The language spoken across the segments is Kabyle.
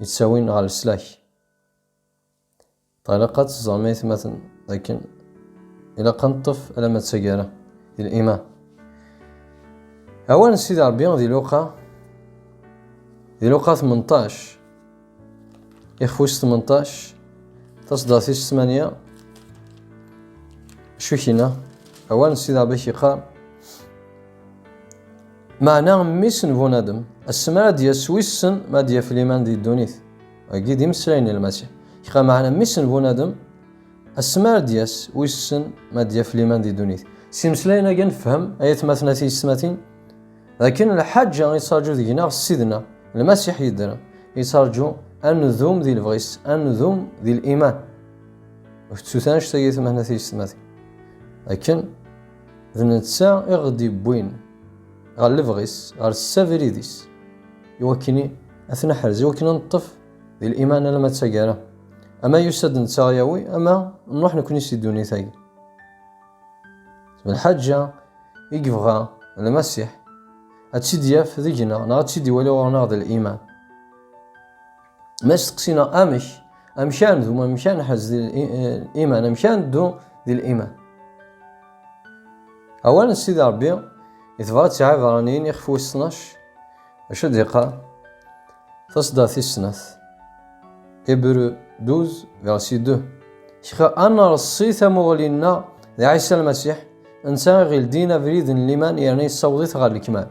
yettawin ɣer leslak. Ilaq ad teẓrem aytmaten dakken ilaq ad neṭṭef alamma d taggara di liman. Awal n Sidi Ṛebbi di Luqa di Luqa 18 ixef wis 18 taṣeddart-is 8 acu i k-yenna? Awal n Sidi Ṛebbi k-yeqqar Meɛna mmi-s n bunadem, ass mi ara d-yas wissen ma ad yaf liman di ddunit. Agi d imeslayen n Lmasiḥ. Kra meɛna mmi-s n bunadem, ass mi ara d-yas wissen ma ad yaf liman di ddunit. S imeslayen-agi nefhem, ay atmaten a tiyesmatin, d akken lḥaǧa yettṛaǧu deg-neɣ Ssid-nneɣ Lmasiḥ yeddren, yettṛaǧu ad ndum di lebɣi-s, ad ndum di liman. Ur tettut anect-agi atmaten a tiyesmatin, akken D netta i ɣ-d-yewwin ɣer lebɣi-s, ɣer ssabrid-is, iwakken ad t-neḥrez, iwakken ad neṭṭef di liman alamma d taggara. Ama yusa-d netta ɣ-yawi, ama nruḥ nekni si ddunit-agi. D lḥaǧa i yebɣa Lmasiḥ ad tt-id-yaf deg-neɣ, neɣ ad tt-id-iwali ɣur-neɣ d liman. Ma steqsina amek, amkan d uma amkan ḥez di liman, amkan ddu di liman. Awal n Sidi Rebbi itebɣa ad tesɛa iberraniyen ixef wis tnac, acu d-iqqar? Tasda tis snat. Ebru 12, versi 2. Kra ad nreṣṣi tamuɣli-nneɣ d Ɛisa Lmasiḥ, netta i ɣ-ildin abrid n liman yerna yessaweḍ-it ɣer lekmal.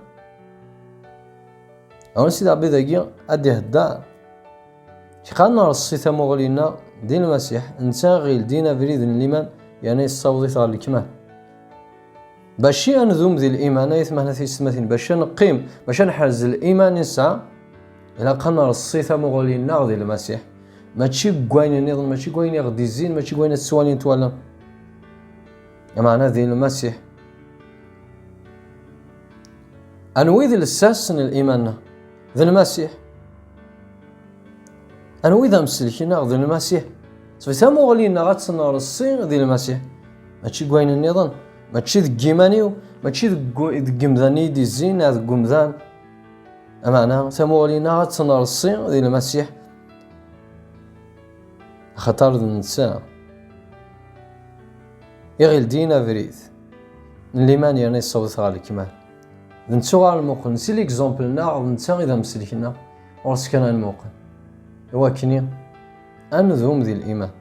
Ɣer Sidi Ṛebbi dagi ad d-ihedder. Kra nreṣṣi tamuɣli-nneɣ di Lmasiḥ, netta i ɣ-yeldin abrid n liman yerna yessaweḍ-it ɣer lekmal. Baci ad nedum di liman, ay tmehna tiyessetmatin, baci ad neqqim, baci ad neḥrez liman i nesɛa, ilaq ad nreṣṣi tamuɣli-nneɣ di Lmasiḥ. Mačči deg wayen nniḍen, mačči deg wayen i ɣ-d-izzin, mačči deg wayen ad ttwalin twalam. Amaɛna di Lmasiḥ. Anwa i d lsas n liman-a? D Lmasiḥ. Anwa i d amselk-nneɣ? D Lmasiḥ. Sbet amuɣli-nneɣ ad tt-nreṣṣi d Lmasiḥ. Mačči deg wayen nniḍen, mačči deg yiman-iw, mačči deg yemdanen i d-izzin neɣ deg umdan. Amaɛna tamuɣli-nneɣ ad tt-nreṣṣi d Lmasiḥ. Axaṭer d netta. Iɣil din abrid n liman yerna yessawḍet ɣer lekmal. D nettu ɣer lmuqel, si l'exemple-nneɣ d netta i d amselk-nneɣ, ɣur-s kan ad nmuqel. I wakken-i, ad nedum di liman.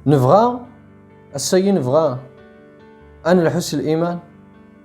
Nebɣa, ass-agi nebɣa ad nelḥu s liman,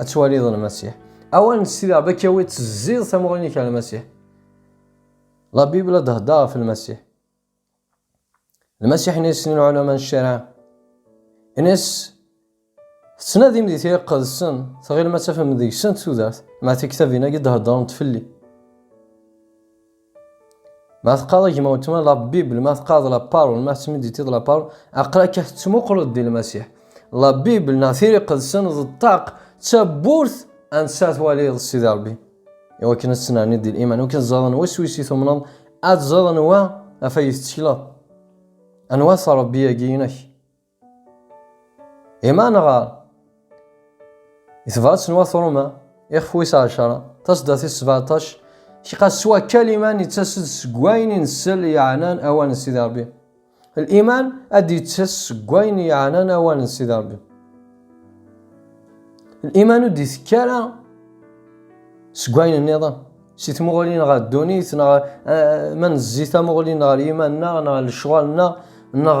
Ad twaliḍ Lmasiḥ. Awal n Sidi Rebbi ad k-yawi tezziḍ tamuɣli-nnek ɣer Lmasiḥ. La Bible ad d-heddeṛ ɣef Lmasiḥ. Lmasiḥ ini-as i lɛulama n ccariɛ. Ini-as tettnadim di tira iqedsen, tɣilem ad tafem deg-sent tudert, ma tiktabin-agi d-heddrent fell-i. Ma teqqareḍ gma weltma la Bible, ma teqqareḍ la parole, ma tettmiditiḍ la parole, aqlak ad tettmuqleḍ di Lmasiḥ. La Bible neɣ tiri qedsen d ṭṭaq d tawwurt ansa twaliḍ Sidi Rebbi. Iwakken ad tettnerniḍ di liman, iwakken teẓreḍ anwa s wis i tumneḍ, ad teẓreḍ anwa af ay tettekleḍ. Anwa-t Rebbi-agi-inek? Ima nɣar i tebrat n wat Roma ixef wis ɛecra tasda tis sebaɛṭac kqas s wakal iman yettas-d seg wayen i nsel yeɛnan awal n Sidi Rebbi. Liman ad d-yettas seg wayen yeɛnan awal n Sidi Rebbi. Liman ur d-itekki ara seg wayen nniḍen si tmuɣli neɣ ddunit neɣ eh, ma nezzi tamuɣli neɣ liman-nneɣ neɣ lecɣal-nneɣ neɣ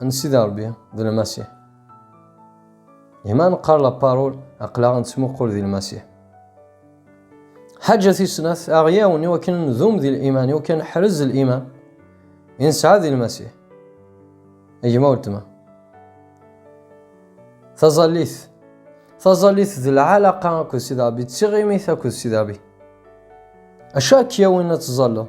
n Sidi Ṛebbi d Lmasiḥ. Ima neqqar la parole, aql-aɣ nettmuqul di Lmasiḥ. Ḥaǧa tis snat, aɣ-yawen i wakken ndum di liman, i wakken ḥrez liman i nesɛa di Lmasiḥ. A gma weltma. Taẓallit. Taẓallit d lɛalaqa akked Sidi Ṛebbi, d tiɣimit akked Sidi Ṛebbi. Acu ak-yawin ad tẓalleḍ?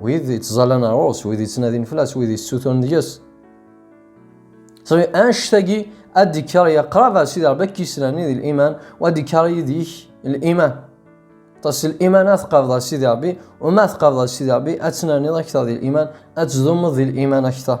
Wid yettẓallan ar ɣur-s, wid yettnadin fell-as, wid yessutun deg-s. Sɣi anect-agi ad d-ikker ya qrab ar Sidi Rebbi akka yesnerni di liman u ad d-ikker yid-ik liman. Ṭas liman ad tqabḍ ar Sidi Rebbi u ma tqabḍ ar Sidi Rebbi ad tnerniḍ akteṛ di liman, ad tdummeḍ di liman akteṛ.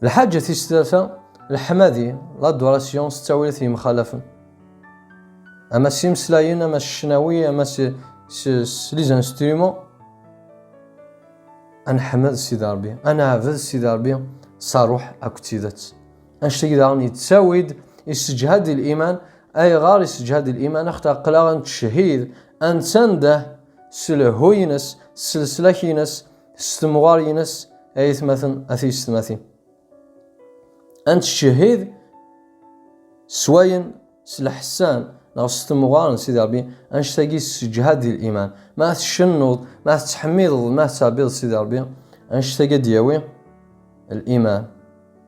Lḥaǧa tis tlata, leḥmadi, l'adoration s ttawilat yemxalafen. Ama s imeslayen, ama s ccnawi, ama s, s, s les instruments. Ad neḥmed Sidi Ṛebbi, ad neɛbed Sidi Ṛebbi s ṛṛuḥ akked tidet. Annect-agi daɣen yettawi-d, yessejhad l-iman. Ayɣer yessejhad l-iman? Axaṭer aql-aɣ ad nettcehhid, ad nettandeh s lehhu-ines, s leslak-ines, s temɣar-ines ay atmaten a tiyessetmatin a nettcehhid s wayen s leḥsan neɣ s temɣar n Sidi Ṛebbi anect-agi sseǧhad di liman ma tcennuḍ ma tettḥemmideḍ ma tettɛebbiḍ Sidi Ṛebbi anect-agi ad d-yawi liman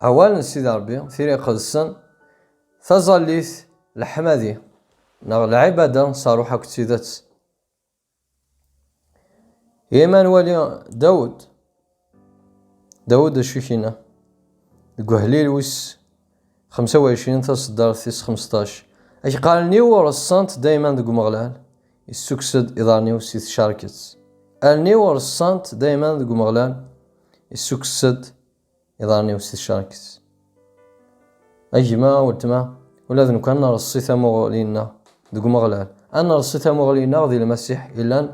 Awal n Sidi Ṛebbi, tira iqedsen, taẓallit, leḥmadi, neɣ lɛibada s ṛṛuḥ akked tidet. Yema nwali Dawed, Dawed d acu i k-yenna? Deg uḥlil wis xemsa u ɛecrin taṣeddart tis xmesṭac, Ad k allen-iw reṣṣant dayman deg Umeɣlal, issukkes-d iḍarren-iw si tcerket. Allen-iw reṣṣant dayman deg Umeɣlal, issukkes-d. iḍarren-iw s tcerket. A gma, a weltma, ula d nekk ad nreṣṣi tamuɣli-nneɣ deg Umeɣlal, ad nreṣṣi tamuɣli-nneɣ di Lmasiḥ yellan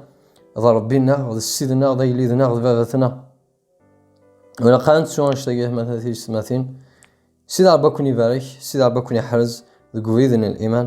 d Ṛebbi-nneɣ, d Ssid-nneɣ, d Agellid-nneɣ, d Baba-tneɣ. Ilaq ad nettu annect-agi yeḥmata tiyessetmatin. Sidi Ṛebbi ad ken-ibarek, Sidi Ṛebbi ad ken-iḥrez deg ubrid n liman.